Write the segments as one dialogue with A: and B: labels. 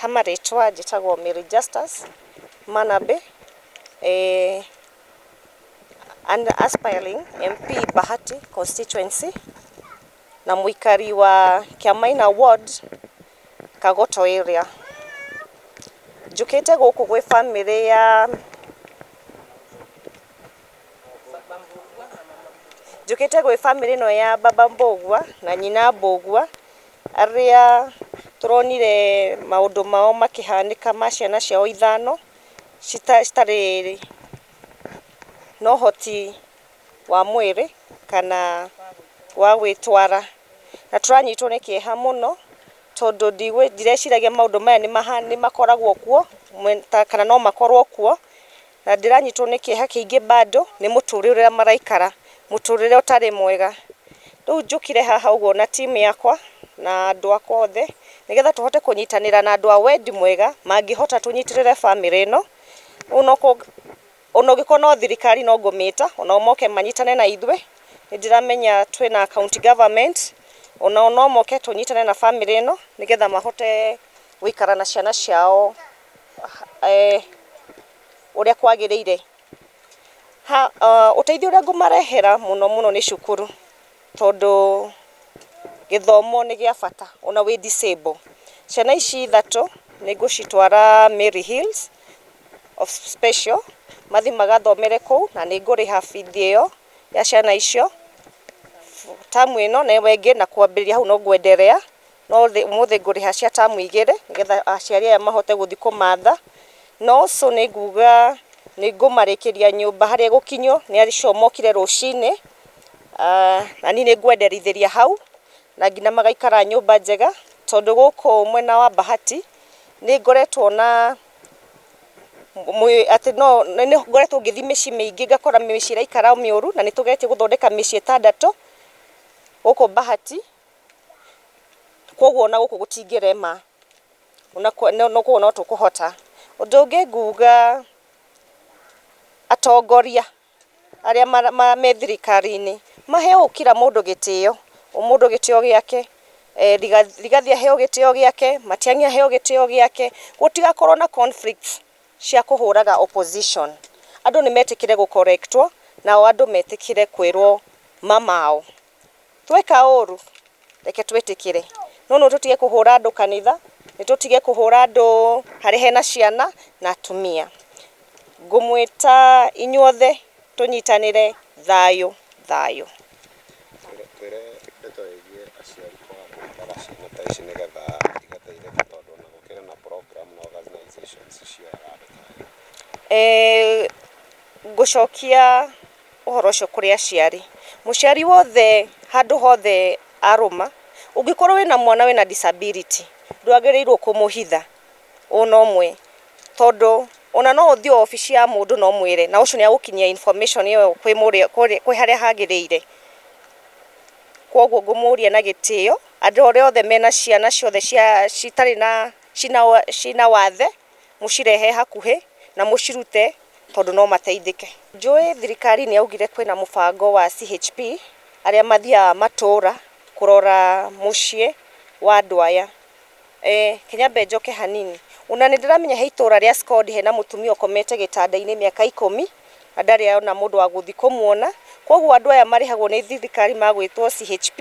A: hama rĩtwa njĩtagwo Mary Justus Manabe eh, an aspiring MP Bahati constituency na mũikari wa Kiamaina ward Kagoto area njũkĩte gũkũ gwĩ bamĩrĩ ya Njũkĩte gwĩ bamĩrĩ ĩno ya baba Mbũgua na nyina Mbũgua, arĩa tũronire maũndũ mao makĩhanĩka ma ciana ciao ithano, citarĩ na ũhoti wa mwĩrĩ kana wa gwĩtwara. Na tũranyitwo nĩ kĩeha mũno tondũ ndirĩciragia maũndũ maya nĩ makoragwo kuo kana no makorwo kuo. Na ndĩranyitwo nĩ kĩeha kĩingĩ bado, nĩ mũtũrĩre ũrĩa maraikara, mũtũrĩre ũtarĩ mwega. Rĩu njũkire haha ũguo na team yakwa na andũ akwa othe, nĩgetha tũhote kũnyitanĩra na andũ a wendi mwega, mangĩhota tũnyitĩrĩre bamĩrĩ ĩno. Ona ũngĩkorwo no thirikari no ngũmĩta, o nao moke manyitane na ithuĩ. Nĩ ndĩramenya twĩna county government, o nao no moke tũnyitane na bamĩrĩ ĩno, nĩgetha mahote gũikara na ciana ciao. ũrĩa kwagĩrĩire. Ũteithio ũrĩa ngũmarehera mũno mũno nĩ cukuru, tondũ gĩthomo nĩ gĩa bata ona wĩ disabled. Ciana ici ithatũ nĩ ngũcitwara Mary Hills of Special mathiĩ magathomere kũu na nĩ ngũrĩha bithi ĩyo ya ciana icio term ĩno na ĩyo ĩngĩ na kwambĩrĩria hau no kwenderea. no ũmũthĩ ngũrĩha cia tamu igĩrĩ nĩgetha aciari aya mahote gũthiĩ kũmatha, na also nĩ nguga nĩ ngũmarĩkĩria nyũmba harĩa ĩgũkinywo nĩ acio mokire rũcinĩ, na niĩ nĩ ngwenderithĩria hau na nginya magaikara nyũmba njega, tondũ gũkũ mwena wa Bahati nĩ ngoretwo na, atĩ no, nĩ ngoretwo ngĩthiĩ mĩciĩ mĩingĩ ngakora mĩciĩ ĩraikara mĩũru na nĩ tũgeretie gũthondeka mĩciĩ ĩtandatũ gũkũ Bahati. Koguo ona gũkũ gũtingĩrema, ona kũu no tũkũhota. Ũndũ ũngĩ nguga atongoria arĩa me thirikari-inĩ maheo kira mũndũ gĩtĩo, o mũndũ gĩtĩo gĩake. Rigathĩ aheo gĩtĩo gĩake, Matiang'i aheo gĩtĩo gĩake, gũtigakorwo na conflicts cia kũhũraga opposition. Andũ nĩ metĩkĩre gũ correct wo, nao andũ metĩkĩre kwĩrwo ma mao. Tweka ũũru reke twĩtĩkĩre, no no tũtige kũhũra andũ kanitha, nĩ tũtige kũhũra andũ harĩa hena ciana na atumia. Ngũmwĩta inyuothe tũnyitanĩre thayũ thayũ. Ngũcokia ũhoro ũcio kũrĩ aciari. Mũciari wothe handũ hothe arũma, ũngĩkorwo wĩna mwana wĩna disability, ndwagĩrĩirwo kũmũhitha ona ũmwe, tondũ ona no ũthiĩ obici ya mũndũ na ũmwĩre na ũcio nĩ agũkinyia information ĩyo kwĩ harĩa hagĩrĩire. Koguo ngũmũria na gĩtĩo, andũ arĩa othe mena ciana ciothe citarĩ na, cina wathe. mũcirehe hakuhĩ na mũcirute tondũ no mateithĩke. Njũĩ thirikari nĩ yaugire kwĩna mũbango wa CHP arĩa mathiaga matũra kũrora mũciĩ wa andũ aya. Reke nyambe njoke hanini, ona nĩ ndĩramenya he itũra rĩa Scond hena mũtumia ũkomete gĩtanda-inĩ mĩaka ikũmi na ndarĩ ona mũndũ wa gũthiĩ kũmwona. Koguo andũ aya marĩhagwo nĩ thirikari magwĩtwo CHP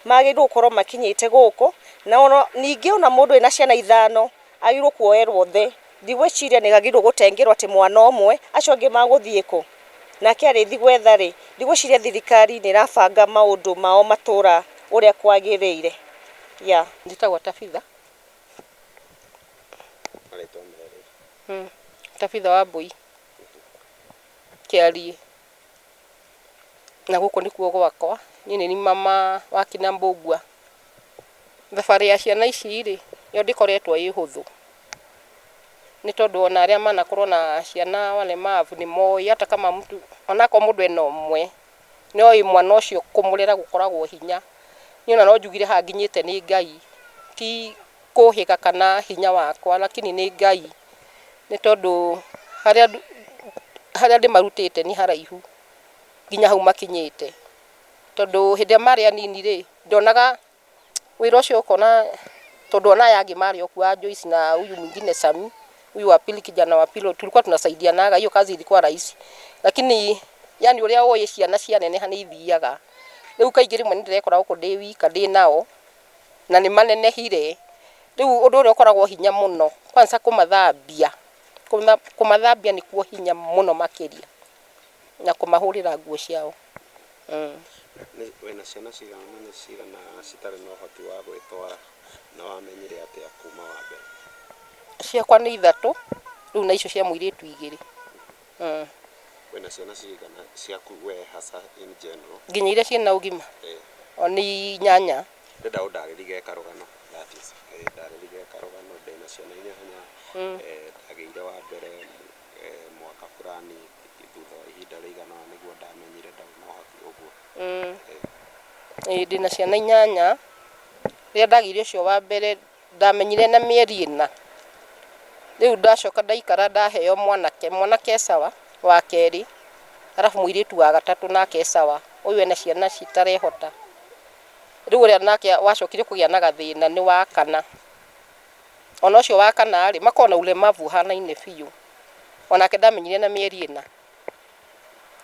A: magĩrĩirwo gũkorwo makinyĩte gũkũ. Na ningĩ ona mũndũ ena ciana ithano Agĩrĩirwo kuoerwo thĩ. Ndigwĩciria nĩagĩrĩirwo gũtengerwo atĩ mwana ũmwe, acio angĩ magũthiĩ kũ? Nake arĩthi gwetha rĩ, ndigwĩciria thirikari nĩrabanga maũndũ mao matũra ũrĩa kwagĩrĩire. Yeah. Njĩtagwo Tabitha. Marĩtwa merĩ. Tabitha Wambũi Kĩariĩ. na gũkũ nĩkuo gwakwa, niĩ nĩ niĩ mama wa kina Mbũngua. Thabarĩ ya ciana ici rĩ, yo ndĩkoretwo ĩ hũthũ, nĩ tondũ ona arĩa manakorwo na ciana walemavu nĩ moĩ hata kama mtu, onakorwo mũndũ ena ũmwe, nĩ oĩ mwana ũcio kũmũrera gũkoragwo hinya. Niĩ ona no njugire haha nginyĩte nĩ Ngai, ti kũhĩga kana hinya wakwa, lakini nĩ Ngai. nĩ tondũ harĩa ndũ, harĩa ndĩmarutĩte nĩ haraihu nginya hau makinyĩte, tondũ hĩndĩ ĩrĩa marĩ anini rĩ, ndonaga wĩra ũcio ũkona, tondũ
B: ona aya angĩ marĩ o kuo a Joyce na huyu mwingine Sami, huyu wa pili kijana wa pili tulikuwa tunasaidianaga, hiyo kazi ilikuwa rahisi, lakini yaani ũrĩa ũĩ ciana cianeneha nĩ ithiaga, rĩu kaingĩ rĩmwe nĩ ndĩrekoraga gũkũ ndĩ wika ndĩ nao. na nĩ manenehire. Rĩu ũndũ ũrĩa ũkoragwo hinya mũno kwanza kũmathambia, kũmathambia nĩkuo hinya mũno makĩria na kũmahũrĩra nguo ciao.
C: Wĩna ciana cigana na nĩ cigana citarĩ na ũhoti wa gwĩtwara na wamenyire atĩa kuma wa mbere? Ciakwa
B: nĩ ithatũ rĩu na icio cia mũirĩtu igĩrĩ. Mm. Wĩna
C: ciana cigana ciaku we hasa in general? Nginya iria ciĩna ũgima
B: Eh. o nĩ inyanya Ndĩrenda ũndarĩrie
C: karũgano that is. Eh, ndarĩrie karũgano ndĩna ciana inyanya. Eh, ndagĩire wa mbere eh, mwaka fulani thutha wa ihinda rĩigana ũna nĩguo ndamenyire ndau no hakuhĩ ũguo. Mm. Eh, Ĩĩ, ndĩna ciana inyanya
B: rĩrĩa ndagĩire ũcio wa mbere Ndamenyire ena mĩeri ĩna. Rĩu ndacoka ndaikara ndaheo mwanake, mwanake e sawa wa kerĩ, arabu mũirĩtu wa gatatũ nake e sawa, ũyũ ena ciana citarehota. Rĩu ũrĩa nake wacokire kũgĩa na gathĩna nĩ wa kana, ona ũcio wa kana rĩ, makoragwo na ũlemavu ũhanaine biũ, onake ndamenyire ena mĩeri ĩna.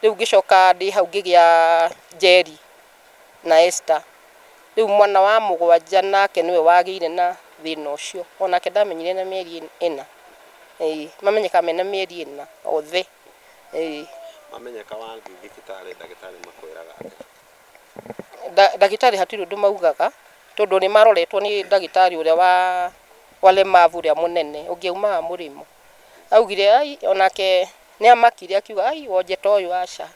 B: Rĩu ngĩcoka ndĩ hau ngĩgĩa Njeri, na Esther. Rĩu mwana wa mũgwanja nake nĩwe wagĩire na thĩna ũcio. Onake ndamenyire na mĩeri ĩna. Ĩĩ. Mamenyeka mena mĩeri ĩna othe. Ĩĩ.
C: Mamenyeka wathiĩ thibitarĩ ndagĩtarĩ makwĩraga atĩa?
B: Ndagĩtarĩ hatirĩ ũndũ maugaga tondũ nĩ maroretwo nĩ ndagĩtarĩ ũrĩa wa walemavu ũrĩa mũnene ũngĩaumaga mũrĩmo. augire ai onake nĩ amakire akiuga ai wonje ta ũyũ aca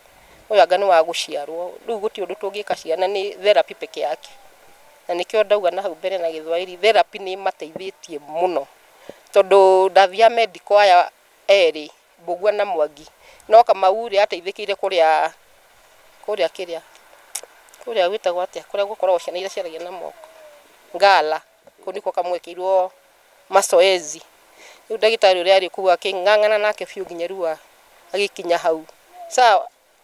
B: ũyũ anga nĩ wa gũciarwo rĩu gũtirĩ ũndũ tũngĩka ciana nĩ therapy peke yake na nĩkĩo ndauga na hau mbere na gĩthwaĩri therapy nĩ ĩmateithĩtie mũno tondũ ndathiaga medical aya erĩ Mbũgua na Mwangi no Kamau rĩ ateithĩkĩire kũrĩa kũrĩa kĩrĩa kũrĩa gwĩtagwo atĩa kũrĩa gũkoragwo ciana iria ciaragia na moko Ngara. kau niko kamwekirwo masoezi riu ndagitari uria ari kuu aking'ang'ana nake biu nginya riu a- agikinya hau sa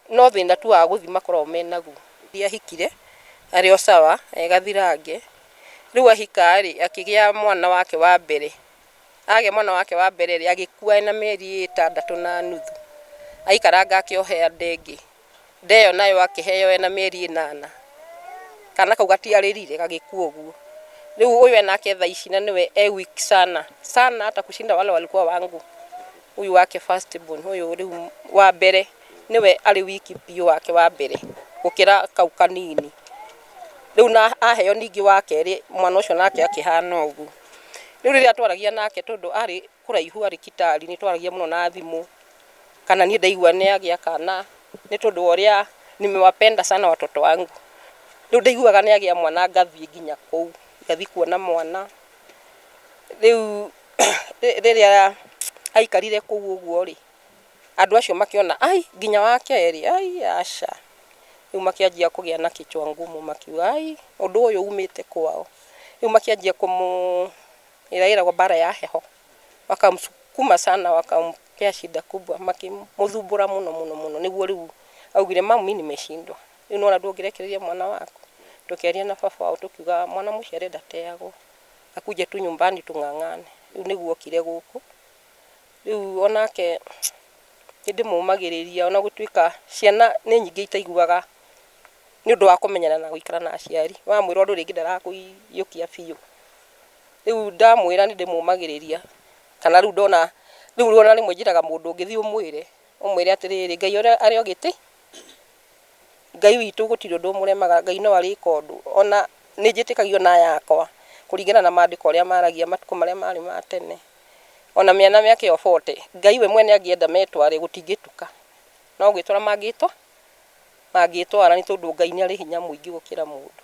B: no thina tu wa guthii makoragwo menaguo Nĩ ahikire arĩ o sawa e gathirange riu ahika rĩ akĩgĩa mwana wake wa mbere agĩa mwana wake wa mbere rĩ agĩkua ena mĩeri ĩtandatũ na nuthu aikaranga akĩohea ndengĩ Nda ĩyo nayo akĩheo ena mĩeri ĩnana. Kana kau gatiarĩrire gagĩkua ũguo. Rĩu ũyũ enake thaa ici na nĩwe e weak sana sana hata kushinda wale walikuwa wangu. Ũyũ wake first born ũyũ rĩu wa mbere nĩwe arĩ weak biũ wake wa mbere gũkĩra kau kanini. Rĩu na aheo ningĩ wa kerĩ mwana ũcio nake akĩhana ũguo. Rĩu rĩrĩa twaragia nake tondũ arĩ kũraihu arĩ Kitale nĩ twaragia mũno na thimũ. kana niĩ ndaigua nĩ agĩa kana nĩ tondũ wa ũrĩa nimewapenda sana watoto wangu. Rĩu ndaiguaga nĩ agĩa mwana ngathiĩ nginya kũu, ngathiĩ kuona mwana. Rĩu rĩrĩa aikarire kũu ũguo rĩ, andũ acio makĩona ai nginya wa kerĩ, ai aca. Rĩu makĩanjia kũgĩa na kichwa ngumu makiuga ai ũndũ ũyũ umĩte kwao. Rĩu makĩanjia kũmũ, ĩrĩa ĩragwo mbara ya heho. wakamsukuma sana wakampea shida kubwa makimuthumbura muno muno muno niguo riu augire mamu mimi nimeshindwa riu nona ndungirekereria mwana waku tukiaria na baba wao tukiuga mwana muciare ndateagwo akuje tu nyumbani tung'ang'ane riu niguo okire guku riu onake nindimumagiriria ona gutuika ciana ni nyingi itaiguaga ni undu wa kumenyana na guikara na aciari wamwira undu ringi ndarakuiyukia biu rĩu ndamwĩra nĩ ndĩmũmagĩrĩria kana rĩu ndona rĩu rĩu ona rĩmwe njĩraga mũndũ ũngĩ thiĩ ũmwĩre ũmwĩre atĩrĩrĩ ngai ũrĩa arĩ ogĩtĩ ngai witũ gũtirĩ ũndũ ũmũremaga ngai no arĩka ũndũ ona nĩ njĩtĩkagia ona aya akwa kũringana na mandĩko ũrĩa maragia matukũ marĩa marĩ ma tene ona mĩana mĩaka ĩyo bote ngai we mwene angĩenda metware gũtingĩtuka no gwĩtwara mangĩtwa mangĩtwara nĩ tondũ ngai nĩ arĩ hinya mũingĩ gũkĩra mũndũ.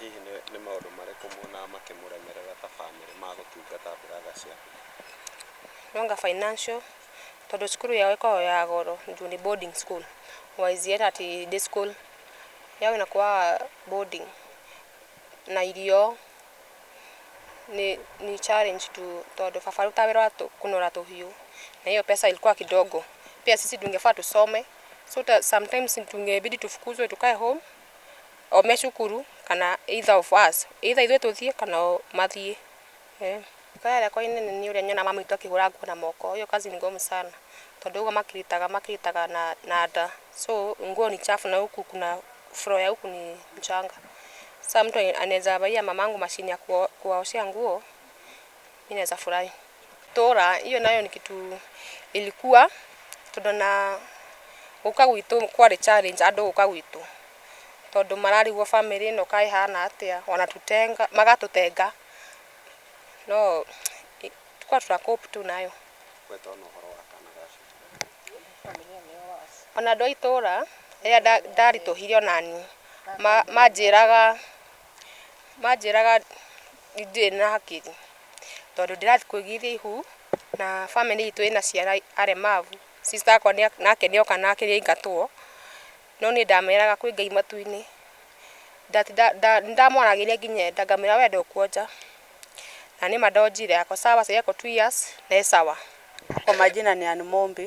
D: Hihi
C: nĩ maũndũ marĩkũ muonaga makĩmũremerera ta bamĩrĩ ma gũtungata brother ciao?
D: Anga financial, tondũ cukuru yao ĩkoragwo ya goro juu nĩ boarding school, wise yet at day school, yao ĩnakuaga boarding, na irio, nĩ challenge tu tondũ baba arutaga wĩra wa kũnora tũhiũ, na hiyo pesa ilikuwa kidogo, pia sisi tungefaa tusome. so ta sometimes tũngebidi tũfukuzwe tũkae home o me cukuru kana either of us either ithuĩ tũthiĩ kana o mathiĩ eh. Kaya yakwa inene nĩ ũrĩa nyona mama witũ akĩhũra nguo na moko hiyo kazi ni ngumu sana tondũ ũguo makiritaga makiritaga na, na nda so nguo ni chafu na huku kuna floor ya huku ni mchanga saa mtu anaweza baia mamangu mashini ya kuwa- kuwaoshea nguo mi naweza furahi itũra, hiyo nayo ni kitu ilikuwa tondũ na gũka gwitũ kwarĩ challenge andũ gũka gwitũ tondũ mararigwo family ĩno kaĩ ĩhana atĩa ona tũtenga, magatũtenga no tũka tũra cope tu nayo. Ona andũ a itũra rĩrĩa ndaritũhire onaniĩ manjĩraga... Manjĩraga ndirĩ na hakiri, tondũ ndĩrathiĩ kũigithia ihu, na bamĩrĩ itũ ĩna ciana aremavu, sister wakwa nake nĩ oka nake nĩ aingatwo, no niĩ ndameraga kwĩ Ngai matu-inĩ, ndatinda nda nĩ ndamwaragĩria nginya enda, ngamwĩra we ndũkuonja, na nĩma ndonjire, ako sawa, sahii ako two years na e sawa. Kwa majina
E: ni Ann Mombi.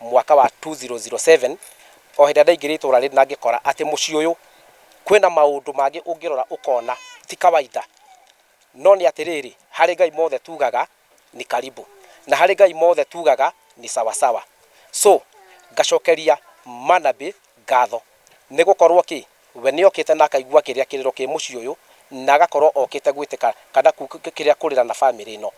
F: mwaka wa 2007 o hĩndĩ ĩrĩa ndaingĩrire itũra rĩrĩ na ngĩkora atĩ mũciĩ ũyũ kwĩna maũndũ mangĩ ũngĩrora ũkona ti kawaida no nĩ atĩrĩrĩ harĩ Ngai mothe tugaga nĩ karibu na harĩ Ngai mothe tugaga nĩ sawa sawa so ngacokeria manabi ngatho nĩ gũkorwo kĩ We nĩ okĩte na akaigua kĩrĩa kĩrĩro kĩ mũciĩ ũyũ na agakorwo okĩte gwĩtĩka kana kĩrĩa kũrĩra na family ĩno.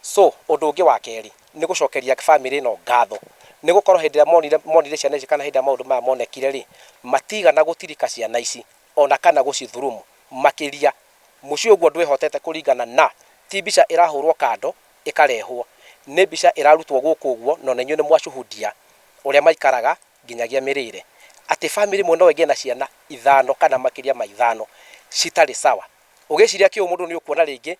F: So ũndũ ũngĩ wa kerĩ nĩ gũcokeria family ĩno ngatho nĩ gũkorwo hĩndĩ ĩrĩa monire monire ciana ici kana hĩndĩ ĩrĩa maũndũ maya monekire rĩ, matigana gũtirika ciana ici ona kana gũcithurumu makĩria. Mũciĩ ũguo ndwĩhotete kũringana na ti mbica ĩrahũrwo kando ĩkarehwo. Nĩ mbica ĩrarutwo gũkũ ũguo na ona inyuĩ nĩ mwashuhudia ũrĩa maikaraga nginyagia mĩrĩĩre, atĩ famĩlĩ ĩmwe no ĩgĩe na ciana ithano kana makĩria ma ithano citarĩ sawa. Ũgĩciria kĩũmũndũ nĩ ũkuona rĩngĩ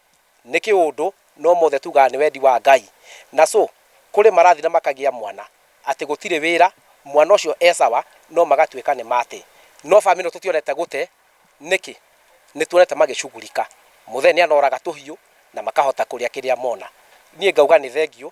F: nĩ kĩũndũ no mothe tugaga nĩ wendi wa Ngai. Na so kũrĩ marathiĩ na makagĩa mwana atĩ gũtirĩ wĩra, mwana ũcio e sawa no magatuĩka nĩ mate. No famĩlĩ ĩno tũtionete gũte, nĩkĩ? Nĩ tuonete magĩshughulika. Mũthee nĩ anoraga tũhiũ na makahota kũrĩa kĩrĩa mona. Niĩ ngauga nĩ thengiũ